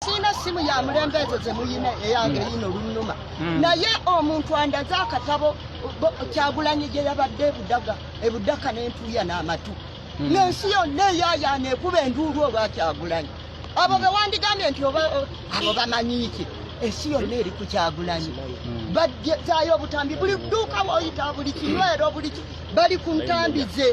sirina simu ya mulembe ezo zemuyina eyange yina olunnuma hmm. naye omuntu andaze akatabo kyagulanyi gye yabadde ebudaga ebudaka nentuya n'amatu hmm. nensi yonna eyayana ekuba enduulu olwa kyagulanyi abo hmm. bewandigambye nti oba abo bamanyiki ensi yonna eri ku kyagulanyi bazayo obutambi buli duuka woyita buli kinywero buli bali ku ntambi ze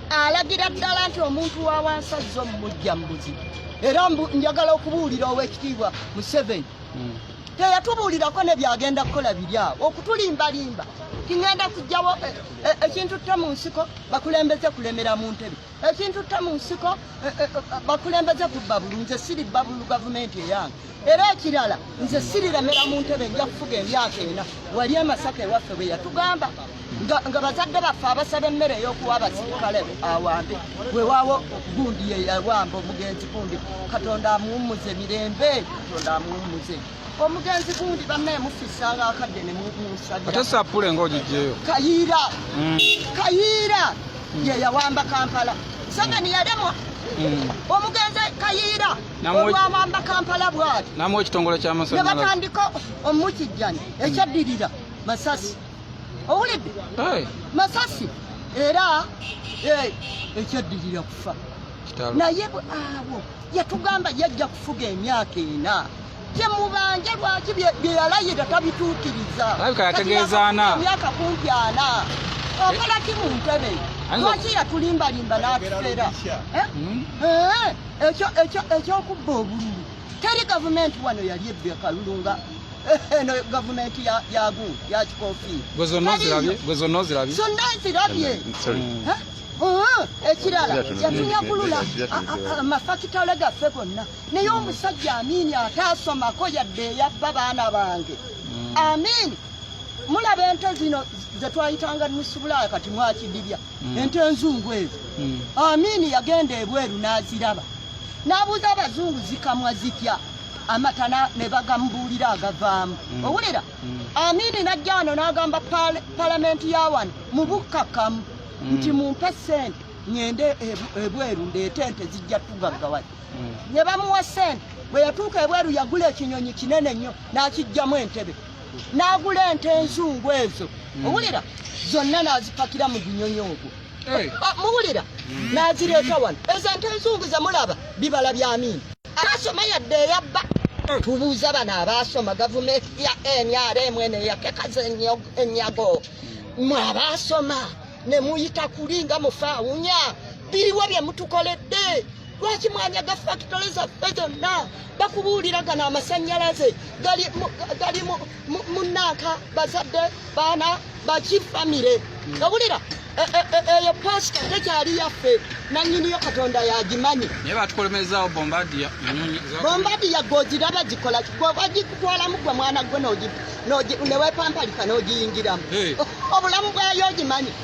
alagira ddala nti omuntu wa wansi azze omumujja mu buzibu era njagala okubuulira ow'ekitiibwa museveni hmm. teyatubuulirako ne byagenda kukola biri awo okutulimbalimba tingenda kujjawo eh, eh, ekintu tta mu nsiko bakulembeze kulemera mu ntebe ekintu tta mu nsiko eh, bakulembeze kubba bulu nze siri bbabulu gavumenti eyange era ekirala nze sirilemera mu ntebe nja kufuga emyaka ena wali amasaka ewaffe bwe yatugamba nga bazadde baffe abasaba emmere ey'okuwa abasirikale awambe wewawo gundi yeyawamba omugenzi gundi katonda amuwummuze mirembe katonda amuwummuze omugenzi gundi bannaye mufisa nga akadde ne musabiatesappule nga ogijjeyo kayiira mm. kayiira mm. yeyawamba kampala sanga niyalemwa mm. omugenzi kayiira olwawamba kampala bwati namu ekitongole kyamasanyalaze nebatandika omukijjani ekyaddirira masasi owulidde masasi era eh, ekyaddirira kufa naye abo yatugamba yajja kufuga emyaka ena temubanje lwaki byeyalayira tabituukiriza alabika yategeezaana emyaka kumpi ana okola ki mu ntebe lwaki yatulimbalimba n'atufera eh? hmm? eh? ekyo ekyo ekyokubba obululu teri gavumenti wano yali ebbe kalulu nga eh, eno gavumenti yagu yakikofiira gwe zonna ozirabye gwe zonna ozirabye zonna nzirabye ekirala yatunyagulula amafakitale gaffe gonna naye omusajja amiini ataasomako yadde eyabba baana bange mm. amiini mulaba ente zino zetwayitanga nusubulaya kati mwakidibya mm. ente enzungu ezo mm. amini yagenda ebweru n'aziraba n'abuuza abazungu zikamwa zitya amata ne bagamubuulira agavaamu mm. owulira mm. amini najja wano n'agamba palamenti ya wano mu bukkakkamu mm. nti mumpe ssente ŋŋende ebweru ndeete ente zijja tugaggawa mm. ne bamuwa ssente bwe yatuuka ebweru yagula ekinyonyi kinene nnyo n'akijjamu entebe n'agula ente enzungu ezo hmm. owulira zonna n'azipakira mu gunyonyi ogwo ah, muwulira hmm. n'azireeta wano ezo ente enzungu ze mulaba bibala bya miini asoma yadde eyabba hmm. tubuuza bano abaasoma gavumenti ya nrm eno eyatekaza enyago mwe abaasoma ne muyita kuli nga mufaawunya biriwo bye mutukoledde lwaki mwanyaga fakitole zaffe zonna bakubuulira gano amasannyalaze gali munanka bazadde baana baki famire hmm. owulira e, e, e, eyo pasita tekyali yaffe nanyiniyo katonda yagimanyi naye batukolemezawo bombadiya bombadiya gwogiraba gikola gwebagikutwalamu gwe mwana gwe newepamparika n'ogiyingiramu obulamu bwayo ogimanyi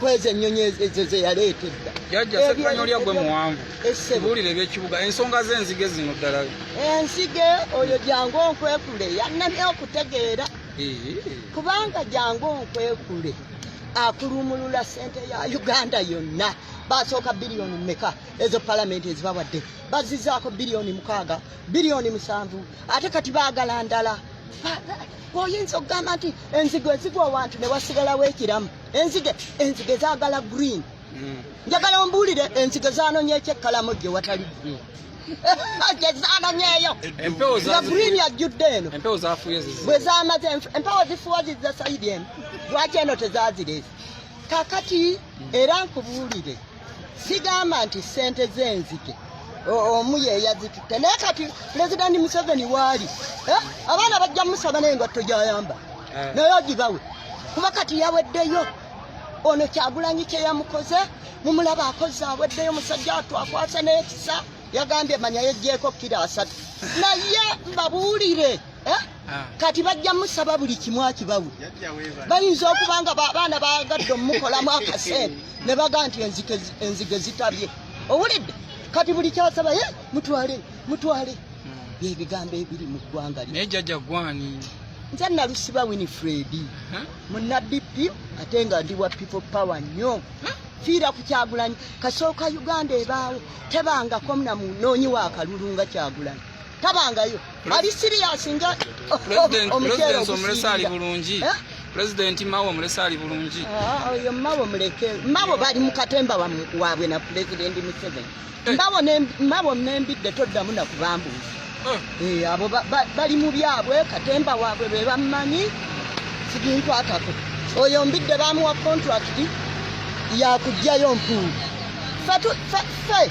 kwezi ennyonyi ezo ze yaleeta edda jajja sekanolya gwe muwanvu buulira ebyekibuga ensonga z'enzige zino ddala enzige oyo jangu onkwekule yannamya okutegeera kubanga jangu onkwekule akulumulula sente ya uganda yonna basooka biliyoni meka ezo palamenti ezibawadde bazizaako biliyoni mukaaga biliyoni musanvu ate kati baagala ndala oyinza okugamba nti enzigo ezigwa wantu ne wasigalawo ekiramu enzige enzige zagala green mm. njagala ombuulire enzige zanonya ekyekkalamu gye watali green gyezanonyeyo nga green yajjudde eno bwe zamaze empewo zifuwa zizza saidi eno lwaki eno tezazireese kakati mm. era nkubuulire sigamba nti sente zenzike omu yeyazitutte naye kati pulezidenti museveni waali eh? abaana bajja musaba naye ngatto gyayamba eh. naye ogibawe kuba kati yaweddeyo ono kyagulanyi kyeyamukoze mumulaba akoze aweddeyo musajja atu akwasa nekisa yagambye manya yejjeeko kira asatu naye mbabuulire eh? Ah. kati bajja musaba buli kimu akibawe bayinza okuba nga baana bagadde omumukolamu akasente ne baga nti enzige zitabye owulidde kati buli kyasaba ye mutwale mutwale hmm. byebigambo ebiri mu ggwanga naye jajja gwani nze nalusiba winifred munadp ate nga ndi wa people power nnyo fiira ku kyagulanyi kasooka uganda ebaawo tebangako mnamunoonyi wa kalulu nga kyagulanyi tabangayo ali serious nga omukyero omulesa ali bulungi eh? pulezidenti mawe omulese ali bulungi ah, oyo mawe muleke mawe bali mukatemba wabwe na pulezidenti museveni eh. mawe nembidde toddamu nakubambuuzi eh. abo bali mu byabwe katemba wabwe bebammanyi siginkwatako oyo mbidde bamuwa kontrakiti yakugjayo mpuuga fe fe fe